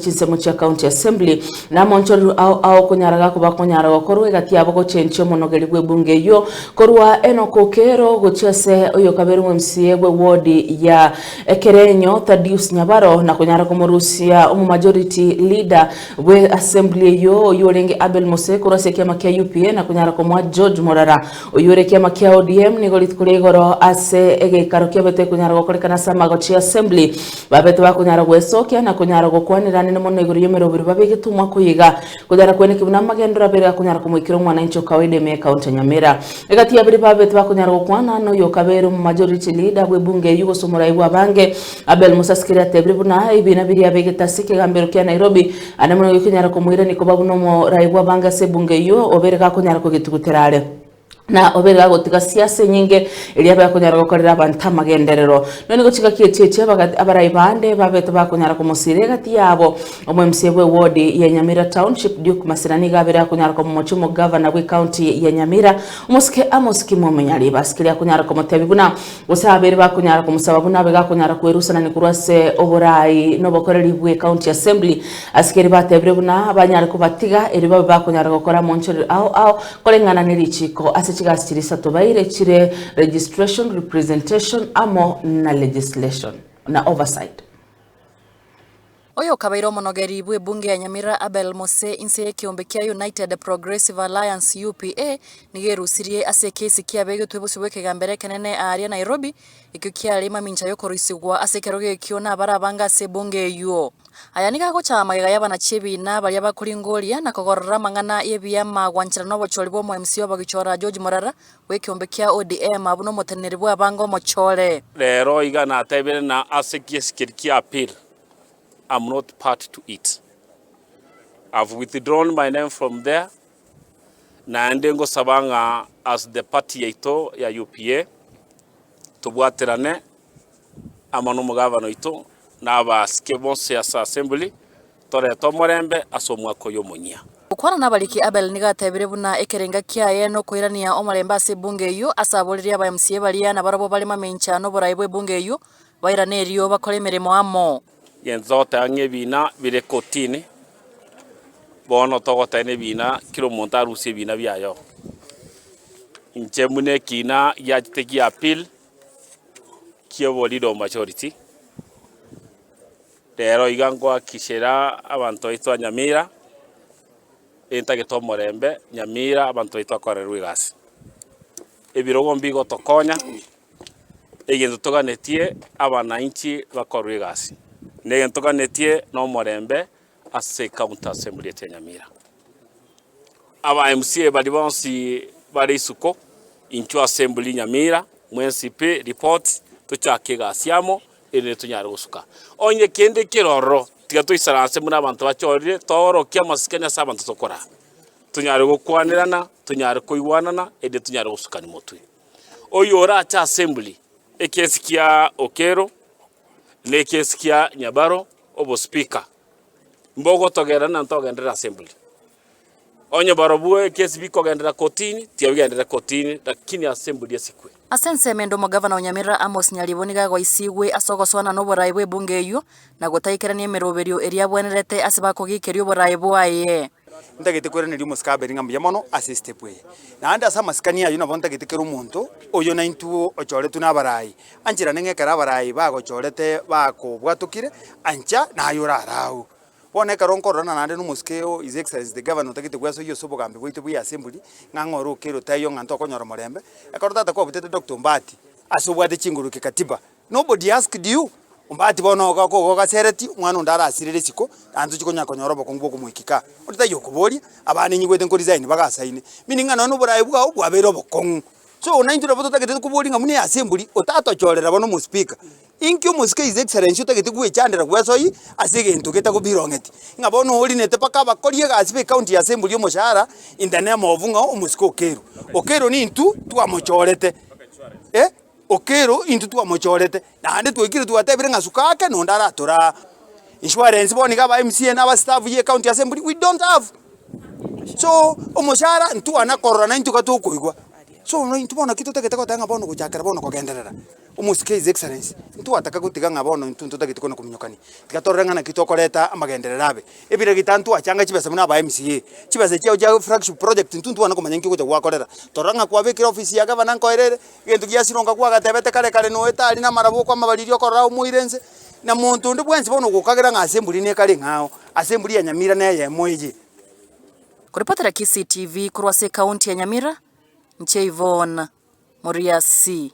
chinsemo chia County Assembly, na amoonchoreru ao aokonyaraga kobakonyara gokorwa egati yabo gochenchia omonogeri bw'ebunge eyio korwa Enock Okeero gochia ase oyokabere omw'MCA bwe ward ya Ekerenyo Thadius Nyabaro na konyara komorusia omomajority leader bwe Assembly eyio oyio orenge Abel Mose korwa ase ekiama kia UPA na konyara komoa George Morara oyio ore ekiama kia ODM. Nigo rituko ria igoro ase egeikaro kiabeto ekonyara gokorekana ase amagochi ya Assembly. Babe tibakonyara gwesokia na konyara gokwaneranene mono igoro y'emeroberi babe egetomwa koyiga konyara kweneki buna amagendero abere akonyara komoikera omwanainchi o kawaida ime y'Ekaunti ya Nyamira. Egati ya babere babe tibakonyara gokwana na oyo okabeire omomajority leader bw'ebunge eyio gose omorai bw'abange. Abel Musasikiri atebirie buna ebina biria abegete ase ekegambero kia Nairobi are mono gekonyara komoirania koba buna omorai bw'abange ase ebunge eyio obeire gakonyara kogetugutera are. na obeire agotiga siasa enyinge, eria abe akonyara gokorera abanto amagenderero. Nonya nigo chingaki echi echi abaga abarai bande babete bakonyara komosiira egati yabo. Omwemsiya bw'ewodi ya Nyamira Township, Duke Masira nigo abeire akonyara komomochia omogavana bw'ecounty ya Nyamira, omosike Amos Kimo Omonyali. Basikire akonyara komoteebia buna, gose abaire bakonyara komosaba buna abaiga akonyara kwerusanani korwa ase oboraai nobokoreri bw'ecounty assembly. Asikeri bateebire buna banyare kobatiga erio babe bakonyara gokora amoonchorero ao ao Koreng'ana ne richiiko ase chigasi chiria isato baire chire Registration, Representation amo na Legislation na Oversight. Oyokabaire omonogeri bw'ebunge ya Nyamira Abel Mose inse y'ekeombe kia United Progressive Alliance, UPA, nigo erusirie ase ekesi kiabegetwe bosio bw'ekegambero ekenene aaria Nairobi, Ekio kiarenge mamincha y'okoroisigwa ase ekerogo ekio nabare abange ase ebungo eyio. Aya nigo agocha amagega y'abana chi'ebiina baria bakoringoria na kogorora amang'ana y'ebiama gwanchera nobochori bw'omoemisia obogichora George Morara bw'ekeombe kia ODM abwo nomoteneneri bw'abange omochore. Rero iga natebire na ase giesikeri kia appeal am not part to it. I've withdrawn my name from there Naende ngosaba ng'a as the party yaito ya UPA, tobwaterane amo n'omogavana oito na abasike bonsi ase Assembly, torete omorembe ase omwaka oyo omonyia. Gokwana nabariki Abel nigo atebire buna ekerenga kiaye nokoirania omorembe ase ebunge eyio ase aboririe aba MCA baria nabarobwo bare mamencha noborai bw'ebunge eyio bairane erio bakore emeremo amo. Gento togoteba ng'a ebina bire kotini, bono togoteba ng'a ebina kera omonto arusie ebina biaye. Inche buna ekina giachete gia appeal ki'oboriri o majority, rero iga ngoakikishera abanto baito ba Nyamira entagete omorembe Nyamira abanto baito bakorerwe egasi. Ebirogo mbigotokonya Egento toganetie abanainchi bakorwe egasi, negento toganetie nomorembe ase County Assembly ase Nyamira. Aba MCA baria bonsi bare isuko inchwe Assembly Nyamira, mwensipe report tochake egasi amo erinde tonyare gosuka onye kende keroro tiga toisana ase buna abanto bachorire toorokie amasikani ase abanto tokorara. Tonyare gokwanerana, tonyare koigwanana erinde tonyare gosukani motwe. Oyio ore ache asembli, ekesi kia Okello na ekesi kia Nyabaro obo speaker, mbogotogera na ntogenderere asembli. Onye barobwo ekesi bikogenderera kotini, tiga bigenderere kotini, lakini asembli esikwe. Ase ensemo ende omogavana o Nyamira Amos Nyaribo nigo agoisigwe ase ogoswana noboraai bw'ebunge eyio, na gotaikerania emeroberio eria abwenerete ase bakogeikeria oboraai bwaye. Ntagete kweraneria omosike abe ring'ana mbuya mono ase esitepu eye. Naende ase amasikani ayio nabo ntagete kera omonto oyo naintwe ochoretwe n'abaraai, anche naende ng'a ekero abaraai bagochorete bakobwatokire, ancha naye orare agwo. Bono ekero nkororana naende n'omosike oo His Excellency the Governor otagete gwesoyia ase obogambi bwaito bwa eAssembly, ng'a ng'a ore okeire otaiyo ng'a ntokonyora omorembe, ekero tata kwabutete Doctor Ombaati, ase obwate chinguru kekatiba, Nobody asked you? Ombati bono oga ko igo ogasereti, omwana onde arasire risiko, naende tochi konya konyora obokongu bw'okomoika kaa. Ore taiyo okoboria, abana ninyigwete nkoresign bagasaine, meaning ng'a nonya na oborae bwao bwabeire obokong'u. So naintwe nabo totagete koboria ng'a buna eyase emburi, otatochorera bono omospika. Inki omosike his excellency otagete gwechandera gwesoi ase egento getagobirong'eti, ng'a bono orinete mpaka abakori egasi be county yase emburi omoshahara in the name of ng'a omosike okeirwe. Okeirwe nintwe twamochorete, eh. Okello intwe twamochorete, naende twaikire twatebire ng'a asuka ake nonde aratoore aa. Insurance bono iga aba mca na aba staff ye county assembly we don't have. So omochara ntwana korora na intwe iga tokoigwa. So no intwe bono naki totagete goteba ng'a bono gochakera bono kogenderera omosike his excellency ntwataka gotiga ng'a bono intwe ntotagete kona kominyokani. Tiga torore ng'a naki tokoreta amagenderero abe. Ebira gitano twachanga chibesa buna aba mca, chibesa echiao chia flagship project intwe ntwane komanya nki ogocha gwakorera. Torora ng'a kwabekire office ya gavana nkoerere, Gento giasirwa ngakwa agatebete kare kare noe tari namarabo okwamabariri okorora aye omoire nse, na monto onde bwensi bono ogokagera ng'a ase emburi nekare ing'ao, ase emburi ya Nyamira neyemo eye. Korepotera Kisii TV korwa ase ekaunti ya Nyamira, inche Yvonne Moriasi.